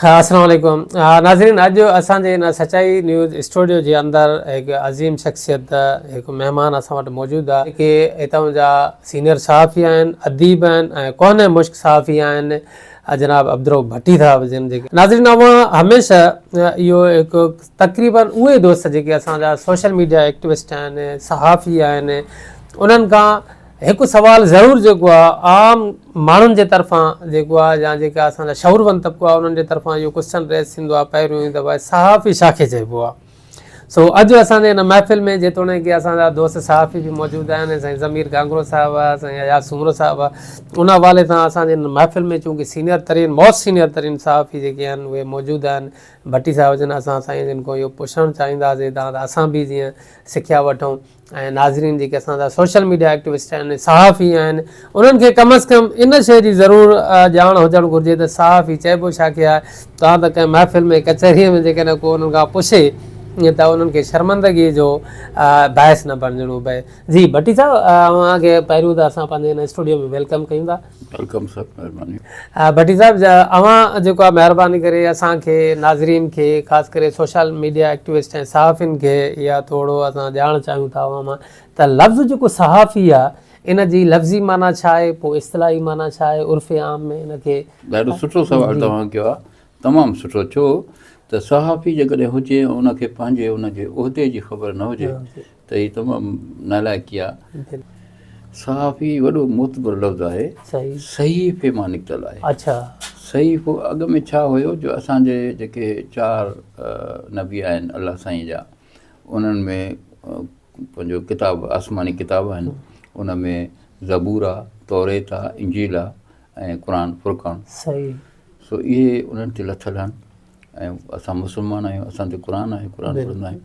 السلام عليڪم ناظرين اڄ اسان جي ان سچائي نيوز اسٽوڊيو جي اندر هڪ عظيم شخصيت هڪ مهمان اسان وٽ موجود آ جيڪي هتان جا سينئر صحافي آهن اديب آهن ۽ ڪوهنه مشڪ صحافي آهن جناب عبدالرؤف ڀٽي صاحب جن جيڪي ناظرين اوهان هميشه اهو هڪ تقريبا اهي دوست جيڪي اسان جا سوشل ميڊيا ايڪٽوسٽ آهن صحافي آهن انهن کان هڪ سوال ضرور جيڪو آ عام ماڻهن جي طرفان جيڪو آ يا جيڪا اسان جا شعورمند طبقو آ انهن جي طرفان اهو ڪوسچن ريز ٿيندو آ پهريون ئي دفعي صحافي ڇا کي چئبو آ سو اڄ اسان جي ان محفل ۾ جيتوڻيڪ اسان جا دوست صحافي به موجود آهن ۽ سائين ضمير گانگرو صاحب آ سائين اياز سومرو صاحب آ ان حوالي سان اسان جي ان محفل ۾ چونڪه سينئر ترين موسٽ سينئر ترين صحافي جيڪي آهن اهي موجود آهن ڀٽي صاحب جن اسان سائين جن کان اهو پڇڻ چاهينداسين تان ته اسان به جيئن سکيا وٺون ۽ ناظرين جيڪي اسان جا سوشل ميڊيا ايڪٽوسٽ آهن صحافي آهن انهن کي ڪم از ڪم ان شي جي ضرور ڄاڻ هجڻ گهرجي ته صحافي چئبو ڇا کي آهي توهان ته ڪنهن محفل ۾ ڪچهريء ۾ جيڪڏهن ڪو انهن کان پڇي ته انهن کي شرمندگي جو باعث نه بڻجڻو پئي جي ڀٽي صاحب اوهان کي پهريون ته اسان پنهنجي هن اسٽوڊيو ۾ ويلڪم ڪيون ٿا ويلڪم سر مهرباني. ڀٽي صاحب اوهان جيڪو آ مهرباني ڪري اسان کي ناظرين کي خاص ڪري سوشل ميڊيا ايڪٽوسٽ ۽ صحافين کي يا ٿورو اسان ڄاڻ چاهيون ٿا اوهان مان ته لفظ جيڪو صحافي آ ان جي لفظي معنيٰ ڇا آهي پوء اصطلاحي معنيٰ ڇا آهي عرف عام ۾ ان کي ڏاڍو سٺو سوال توهان ڪيو آ تمام سٺو ڇو ته صحافي جيڪڏهن هجي ان کي پنهنجي ان جي عهدي جي خبر نه هجي ته هي تمام نالائقي آهي. صحافي وڏو معتبر لفظ آهي. صحيفي مان نڪتل آهي. اڇا. صحيفو اڳ ۾ ڇا هيو جو اسان جي جيڪي چار نبي آهن الله سائين جا انهن ۾ پنهنجو ڪتاب آسماني ڪتاب آهن ان ۾ زبور آ توريت آ انجيل آ ۽ قرآن فرقان صحيح سو اهي انهن تي لٿل آهن ۽ اسان مسلمان آهيون اسان تي قرآن آهي قرآن پڙهندا آهيون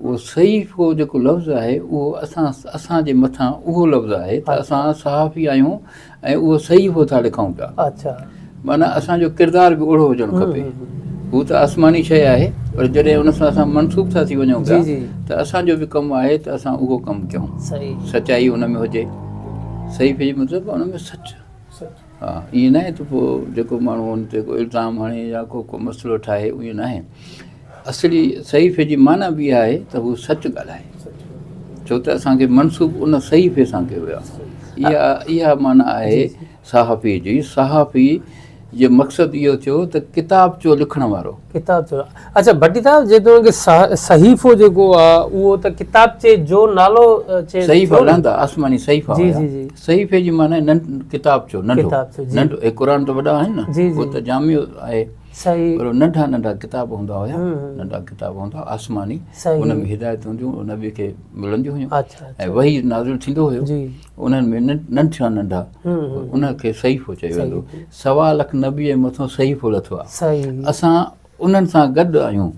اهو صحيفو جيڪو لفظ آهي اهو اسان اسان جي مٿان اهو لفظ آهي ته اسان صحافي آهيون ۽ اهو صحيفو ٿا لکون پيا اچھا معنيٰ اسان جو ڪردار به اهڙو هجڻ کپي هو ته آسماني شيء آهي پر جڏهن ان سان اسان منسوب ٿا ٿي وڃون پيا ته اسان جو به ڪم آهي ته اسان اهو ڪم ڪيون سچائي ان ۾ هجي صحيفي جو مطلب ان ۾ سچ ها ائين ناهي ته پوء جيڪو ماڻهو ان تي ڪو الزام هڻي يا ڪو ڪو مسئلو ٺاهي ائين ناهي اصلي صحيفي جي معنيٰ به اها آهي ته هو سچ ڳالهائي ڇو ته اسان کي منسوب ان صحيفي سان ڪيو ويو آهي اها اها معنيٰ آهي صحافي جي صحافي جو مقصد اهو ٿيو ته ڪتاب جو لکڻ وارو ڪتاب جو اچا ڀٽي صاحب جيتوڻيڪ صحيفو جيڪو آ اهو ته ڪتابچي جو نالو چئجي ٿو صحيفا لهندا آسماني صحيفا هيا صحيفي جي معنيٰ ڪتابچو ننڍو هي قرآن ته وڏا آهن نه هو ته جامع آهي پر ننڍا ننڍا ڪتاب هوندا هيا ننڍا ڪتاب هوندا آسماني ان ۾ هدايتون هونديون هن نبي کي ملنديون هيون ۽ وحي نازل ٿيندو هيو انهن ۾ ننڍا ننڍا ان کي صحيفو چيو ويندو سوا لک نبي مٿو صحيفو لٿو آ اسان انهن سان گڏ آهيون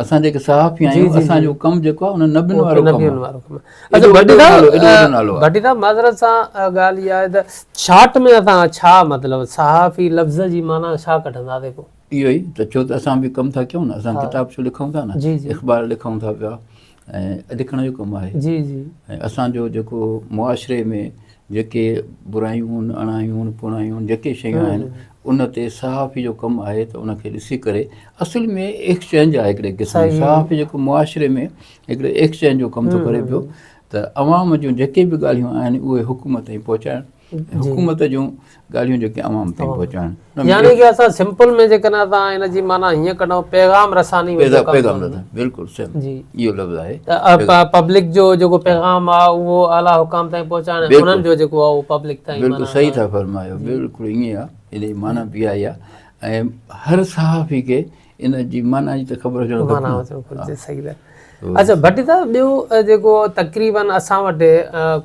اسان جيڪي صحافي آهيون اسان جو ڪم جيڪو آهي انهن نبين وارو ڪم نبين وارو ڪم اچھا ڀٽي صاحب ڀٽي صاحب معذرت سان ڳالھ اها آهي ته شارٽ ۾ اسان ڇا مطلب صحافي لفظ جي معنيٰ ڇا ڪڍنداسين پوء اهو ئي ته ڇو ته اسان به ڪم ٿا ڪيون نه اسان ڪتاب ڇو لکون ٿا نه اخبار لکون ٿا پيا ۽ لکڻ جو ڪم آهي جي جي ۽ اسان جو جيڪو معاشري ۾ جيڪي برايون اڻايون پوڻايون جيڪي شيون آهن ان تي صحافي جو ڪم آهي ته ان کي ڏسي ڪري اصل ۾ ايڪسچينج آهي هڪڙي قسم جي صحافي جيڪو معاشري ۾ هڪڙي ايڪسچينج جو ڪم ٿو ڪري پيو ته عوام جون جيڪي به ڳالهيون آهن اهي حڪومت تائين پهچائڻ حڪومت جون ڳالهيون جيڪي عوام تائين پهچائڻ يعني ڪي اسان سمپل ۾ جيڪڏهن اسان هن جي معنيٰ هيئن ڪڍون پيغام رساني پيغام رساني بلڪل صحيح اهو لفظ آهي ته پبلڪ جو جيڪو پيغام آهي اهو اعليٰ حڪام تائين پهچائڻ انهن جو جيڪو آهي اهو پبلڪ تائين بلڪل صحيح ٿا فرمايو بلڪل ائين آهي ان جي معنيٰ به اها ئي آهي ۽ هر صحافي کي ان جي معنيٰ جي ته خبر هجڻ گهرجي. معنيٰ هجڻ گهرجي، صحيح ده. اچھا ڀٽي صاحب ٻيو جيڪو تقريباً اسان وٽ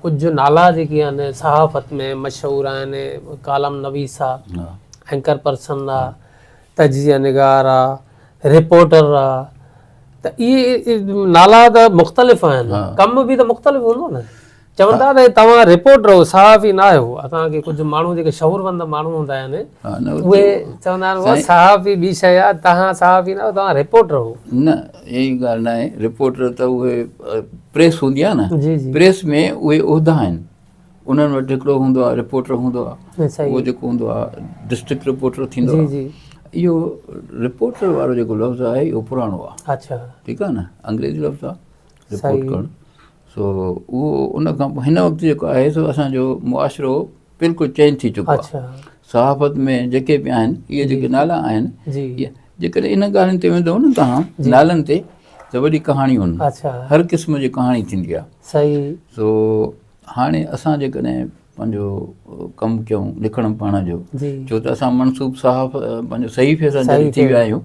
ڪجهه نالا جيڪي آهن صحافت ۾ مشهور آهن، ڪالم نويس آ، اينڪر پرسن آ، تجزيه نگار آ، رپورٽر آ، ته اهي نالا ته مختلف آهن، ڪم به ته مختلف هوندو نه؟ چون ٿا ته توهان رپورٽر آهيو صحافي نه آهيو اسان کي ڪجهه ماڻهو جيڪي شعوروند ماڻهو هوندا آهن اهي چوندا آهن اهو صحافي ٻي شي آهي توهان صحافي نه آهيو توهان رپورٽر آهيو نه اهڙي ڳالهه نه آهي رپورٽر ته اهي پريس هوندي آهي نه جي جي پريس ۾ اهي عهدا آهن انهن وٽ هڪڙو هوندو آهي رپورٽر هوندو آهي اهو جيڪو هوندو آهي ڊسٽرڪٽ رپورٽر ٿيندو آهي اهو رپورٽر وارو جيڪو لفظ آهي اهو پراڻو آهي اچا ٺيڪ آهي نه انگريزي لفظ آهي رپورٽ ڪرڻ سو اهو ان کان پوء هن وقت جيڪو آهي سو اسانجو معاشرو بلڪل چينج ٿي چڪو آهي صحافت ۾ جيڪي به آهن اهي جيڪي نالا آهن جيڪڏهن ان ڳالهين تي ويندو نه توهان نالن تي ته وڏي ڪهاڻيون هن هر قسم جي ڪهاڻي ٿيندي آهي سو هاڻي اسان جيڪڏهن پنهنجو ڪم ڪيون لکڻ پڙهڻ جو ڇو ته اسان منصوب صاحب پنهنجو صحيفي سان جڏهن ٿي ويا آهيون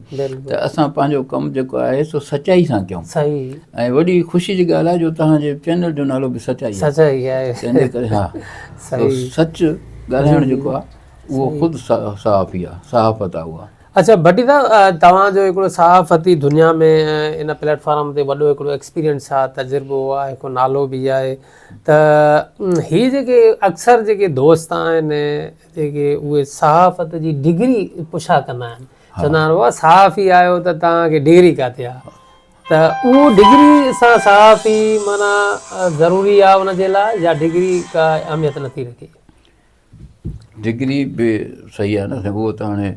ته اسان پنهنجو ڪم جيڪو آهي سو سچائي سان ڪيون ۽ وڏي خوشي جي ڳالهه آهي جو تنهنجي چينل جو نالو به سچائي آهي تنهنجي ڪري ها سچ ڳالهائڻ جيڪو آهي اهو خود صحافي آهي صحافت آهي اها اچا ڀٽي صاحب توهان جو هڪڙو صحافتي دنيا ۾ ان پليٽ فارم تي وڏو هڪڙو ايڪسپيرينس آهي تجربو آهي هڪ نالو به آهي ته هي جيڪي اڪثر جيڪي دوست آهن جيڪي اهي صحافت جي ڊگري پڇا ڪندا آهن چوندا آهن بابا صحافي آهيو ته توهان کي ڊگري ڪاٿي آ ته اهو ڊگري سان صحافي مانا ضروري آ ان جي لاء يا ڊگري ڪا اهميت نٿي رکي ڊگري به صحيح آهي نه سائين هو ته هاڻي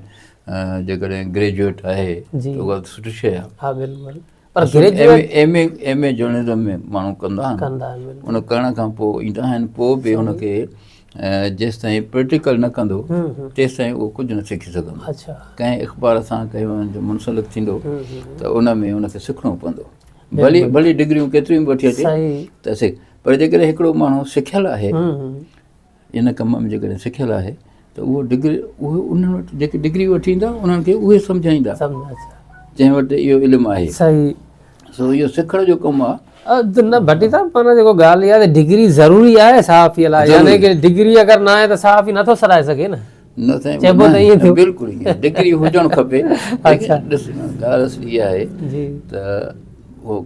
جيڪڏهن گريجوئيٽ آهي ته اها ته سٺي شيء آهي ها بلڪل M A M A journalism ۾ ماڻهو ڪندا آهن ان ڪرڻ کان پوء ايندا آهن پوء به ان کي جيستائين پريڪٽيڪل نه ڪندو تيستائين اهو ڪجهه نه سکي سگهندو ڪنهن اخبار سان ڪنهن هن جو منسلڪ ٿيندو ته ان ۾ ان کي سکڻو پوندو ڀلي ڀلي ڊگريون ڪيتريون به وٺي اچي ته سک پر جيڪڏهن هڪڙو ماڻهو سکيل آهي ان ڪم ۾ جيڪڏهن سکيل آهي ته اهو ڊگري اهي انهن وٽ جيڪي ڊگري وٺي ايندا انهن کي اهي سمجهائيندا جنهن وٽ اهو علم آهي صحيح سو اهو سکڻ جو ڪم آهي نه ڀٽي صاحب پر جيڪو ڳالهه اها آهي ته ڊگري ضروري آهي صحافي لاء يعني ڪي ڊگري اگر نه آهي ته صحافي نه ٿو سرائي سگهي نه نه سائين چئبو ته اهي ٿيو بلڪل اهي ڊگري هجڻ کپي اچھا ڏس ڳالهه اصل اها آهي جي ته هو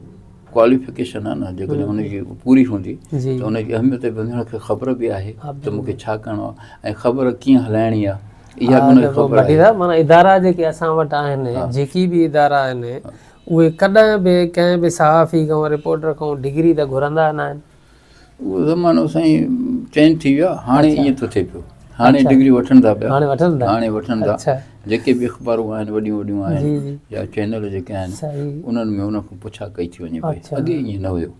ڪواليفڪيشن آهي نه جيڪڏهن ان جي پوري هوندي ته ان جي اهميت به هن کي خبر به آهي ته مون کي ڇا ڪرڻو آهي ۽ خبر ڪيئن هلائڻي آهي اها به ان کي خبر آهي مانا ادارا جيڪي اسان وٽ آهن جيڪي به ادارا آهن اهي ڪڏهن به ڪنهن به صحافي کان رپورٽر کان ڊگري ته گهرندا نه آهن اهو زمانو سائين چينج ٿي ويو آهي هاڻي ايئن ٿو ٿئي پيو هاڻي اچھا. ڊگريون وٺن ٿا پيا هاڻي وٺن ٿا هاڻي وٺن ٿا اچھا. جيڪي به اخبارون آهن وڏيون وڏيون آهن جي جي يا چينل جيڪي آهن صحيح انهن ۾ انهن کان پڇا ڪئي ٿي وڃي پئي اچھا. اڳي ائين نه هيو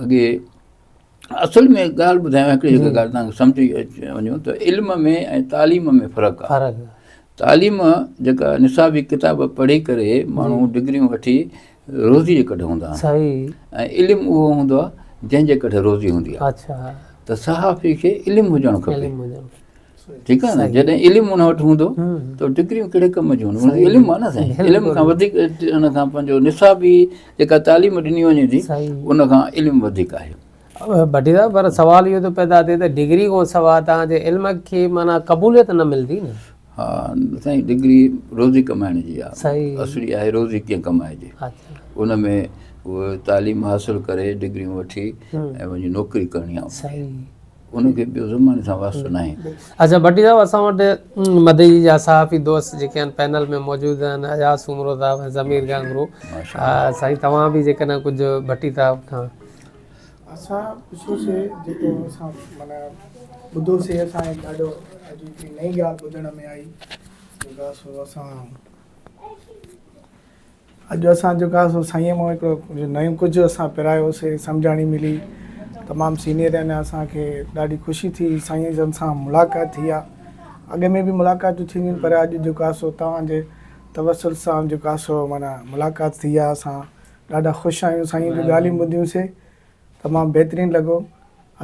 اڳي اصل ۾ ڳالهه ٻڌايان هڪڙي جي. هڪ ڳالهه توهان کي سمجهي اچي وڃو ته علم ۾ ۽ تعليم ۾ فرق آهي فرق تعليم جيڪا نصابي ڪتاب پڙهي ڪري جي ماڻهو ڊگريون وٺي روزي جي ڪڍ هوندا آهن صحيح ۽ علم اهو هوندو آهي جنهن جي ڪڍ روزي هوندي آهي اڇا ته صحافي کي علم هجڻ کپي علم هجڻ ٺيڪ آهي نه جڏهن علم ان وٽ هوندو ته ڊگريون ڪهڙي ڪم جون هونديون ان علم آهي نه سائين علم کان وڌيڪ ان کان پنهنجو نصابي جيڪا تعليم ڏني وڃي ٿي ان کان علم وڌيڪ آهي بٽي صاحب پر سوال اهو ٿو پيدا ٿئي ته ڊگري کان سواء تان جي علم کي معنيٰ قبوليت نه ملندي نه ها سائين ڊگري روزي ڪمائڻ جي آ اصلي آهي روزي ڪيئن ڪمائجي ان ۾ تعليم حاصل ڪري ڊگريون وٺي ۽ وڃي نوڪري ڪرڻي آ سائين ان کي ٻيو زماني سان واسطو ناهي اچھا بٽي صاحب اسان وٽ مدي جا صحافي دوست جيڪي ان پينل ۾ موجود آهن اياز سومرو صاحب ضمير گانگرو سائين توهان به جيڪڏهن ڪجھ بٽي صاحب کان اسان پڇيو سي جيڪو اسان معنيٰ ٻڌو سي اسان کي ڏاڍو عجيب هڪڙي نئين ڳالهه ٻڌڻ ۾ آئي جيڪا سو اسان اڄ اسان جيڪا سو سائين مون هڪڙو نئون ڪجهه اسان پرايو سي سمجهاڻي ملي تمام سينئر آهن اسان کي ڏاڍي خوشي ٿي سائين جن سان ملاقات ٿي آ اڳ ۾ به ملاقاتون ٿينديون پر اڄ جيڪا سو توهان جي توسل سان جيڪا سو معنيٰ ملاقات ٿي آ اسان ڏاڍا خوش آهيون سائين به ڳالهيون ٻڌيون سي تمام بهترين لڳو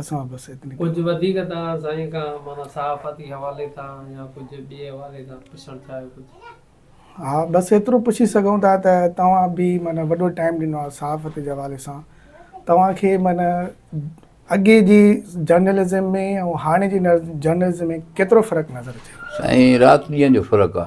اسان بس اتني ڪجهه وڌيڪ توهان سائين کان معنيٰ صحافتي حوالي سان يا ڪجهه ٻئي حوالي سان پڇڻ چاهيو ڪجهه. ها بس ايترو پڇي سگهون ٿا ته توهان به معنيٰ وڏو ٽائيم ڏنو آهي صحافت جي حوالي سان توهان کي معنيٰ اڳي جي جرنلزم ۾ ۽ هاڻي جي جرنلزم ۾ ڪيترو فرق نظر اچي ٿو. سائين رات ڏينهن جو فرق آ.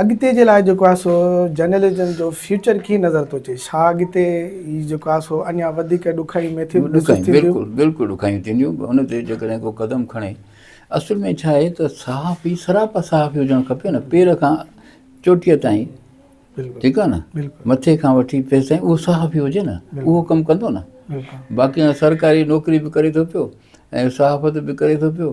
اڳتي جي لاء جيڪو آهي سو جرنلزم جو فيوچر ڪيئن نظر ٿو اچي؟ ڇا اڳتي هي جيڪو آهي سو اڃا وڌيڪ ڏکايون ميٿيون محسوس ٿينديون؟ ڏکايون بلڪل بلڪل ڏکايون ٿينديون ان تي جيڪڏهن ڪو قدم کڻي اصل ۾ ڇا آهي ته صحافي سراپا صحافي هجڻ کپي نه پير کان چوٽيء تائين ٺيڪ آهي نه مٿي کان وٺي پير تائين اهو صحافي هجي نه اهو ڪم ڪندو نه باقي سرڪاري نوڪري به ڪري ٿو پيو ۽ صحافت به ڪري ٿو پيو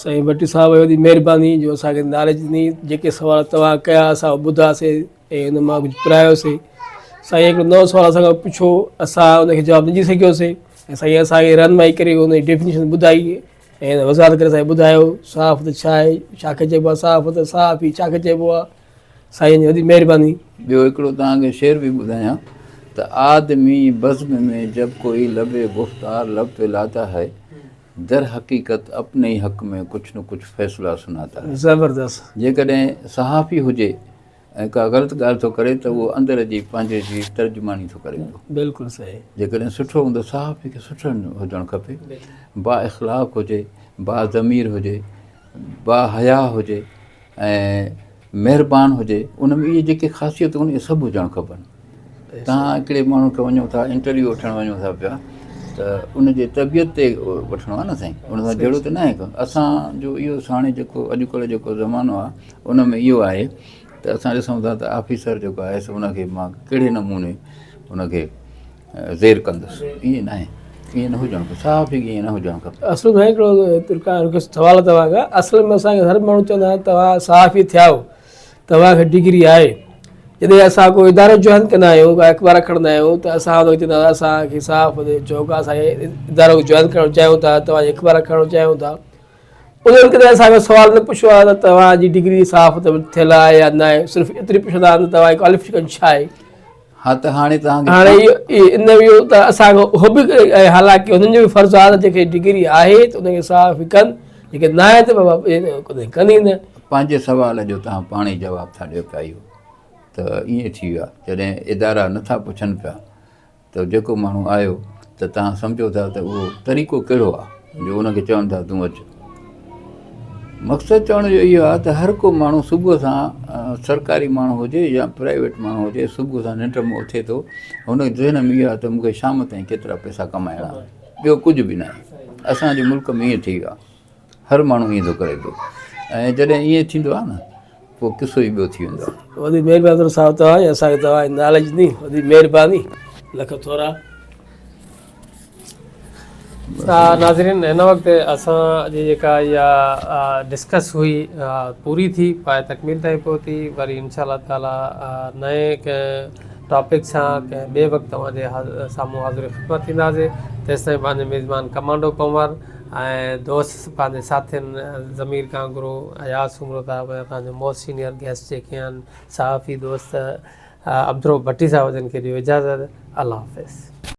سائين ڀٽي صاحب وڏي مهرباني جو اسان کي نالج ڏني جيڪي سوال توهان ڪيا اسان ٻڌاسي ۽ ان مان ڪجهه پرايوسي سائين هڪڙو نو سوال اسان کان پڇو اسان ان کي جواب نه ڏي سگهيوسي ۽ سائين اسان کي رهنمائي ڪري ان جي ڊيفنيشن ٻڌائي ۽ وضاحت ڪري سائين ٻڌايو صحافت ڇا آهي ڇا کي چئبو آهي صحافت صحافي ڇا کي چئبو آهي سائين جي وڏي مهرباني ٻيو هڪڙو توهان کي شعر به ٻڌايان ته آدمي بزم ۾ جب ڪوئي لب گفتار لب په لاتا هي در حقيقت اپني ئي حق ۾ ڪجھ نه ڪجھ فيصلا سناتا هي. زبردست. جيڪڏهن صحافي هجي ۽ ڪا غلط ڳالهه ٿو ڪري ته اهو اندر جي پنهنجي جي ترجماني ٿو ڪري پيو. بلڪل صحيح. جيڪڏهن سٺو هوندو صحافي کي سٺو هجڻ کپي با اخلاق هجي با ضمير هجي با حيا هجي ۽ مهربان هجي ان ۾ اهي جيڪي خاصيتون آهن اهي سڀ هجڻ کپن تهان هڪڙي ماڻهو کي وڃو ٿا انٽرويو وٺڻ وڃو ٿا پيا ته ان جي طبيعت تي وٺڻو آهي نه سائين ان سان جهڙو ته ناهي اسانجو اهو ساڻي جيڪو اڄڪلهه جيڪو زمانو آهي ان ۾ اهو آهي ته اسان ڏسون ٿا ته آفيسر جيڪو آهي سو ان کي مان ڪهڙي نموني ان کي زير ڪندس ائين ناهي ائين نه هجڻ کپي صاف هي ائين نه هجڻ کپي اصل ۾ هڪڙو ترڪا هڪ سوال توهان کان اصل ۾ اسان کي هر ماڻهو چوندا آهن توهان صحافي ٿيا آهو توهان کي ڊگري آهي جڏهن اسان ڪو ادارو جوائن ڪندا آهيون ڪا اخبار کڻندا آهيون ته اسان کي چوندا اسان کي صاف چوڪ اسان کي ادارو جوائن ڪرڻ چاهيون ٿا توهان جي اخبار کڻڻ چاهيون ٿا انهن ڪڏهن اسان کي سوال نه پڇيو آهي ته توهان جي ڊگري صاف ته ٿيل آهي يا نه آهي صرف ايتري پڇندا آهن ته توهان جي ڪواليفڪيشن ڇا آهي ها ته هاڻي توهان کي هاڻي اهو ان ويو ته اسان کي اهو به ۽ حالانڪه انهن جو به فرض آهي ته جيڪي ڊگري آهي ته ان کي صاف ڪن جيڪي نه آهي ته بابا ڪڏهن ڪن ئي نه پنهنجي سوال جو توهان پاڻ ئي جواب ٿا ڏيو پيا اهو ته ائين ٿي ويو آهي جڏهن ادارا نٿا پڇن پيا ته جيڪو ماڻهو آيو ته توهان سمجهو ٿا ته اهو طريقو ڪهڙو آهي جو ان کي چون ٿا تون اچ. مقصد چوڻ جو اهو آهي ته هر ڪو ماڻهو صبح سان سرڪاري ماڻهو هجي يا پرائيويٽ ماڻهو هجي صبح سان ننڊ مان اٿي ٿو هن ذهن ۾ اهو آهي ته مون کي شام تائين ڪيترا پئسا ڪمائڻا آهن ٻيو ڪجهه به ناهي اسان جي ملڪ ۾ ائين ٿي ويو آهي هر ماڻهو ائين ٿو ڪري پيو ۽ جڏهن ائين ٿيندو آهي نه پوء قصو ئي ٻيو ٿي ويندو آهي. وڏي مهرباني ٿورو صاحب توهان جي اسان کي توهان جي ناليج ڏني وڏي مهرباني لک ٿورا. ناظرين هن وقت اسان جي جيڪا اها ڊسڪس هئي پوري ٿي پائي تڪميل تائين پهتي وري انشاء الله تعالي نئين ڪنهن ٽاپڪ سان ڪنهن ٻئي وقت توهان جي سامهون حاضر خدمت ٿينداسي تيستائين پنهنجو ميزبان ڪمانڊو ڪنور ۽ دوست پنهنجي ساٿين ضمير ڪانگرو، اياز سومرو صاحب ۽ اسان جو موسٽ سينئر گيسٽ جيڪي آهن صحافي دوست عبدالرؤف ڀٽي صاحب جن کي ڏيو اجازت الله حافظ.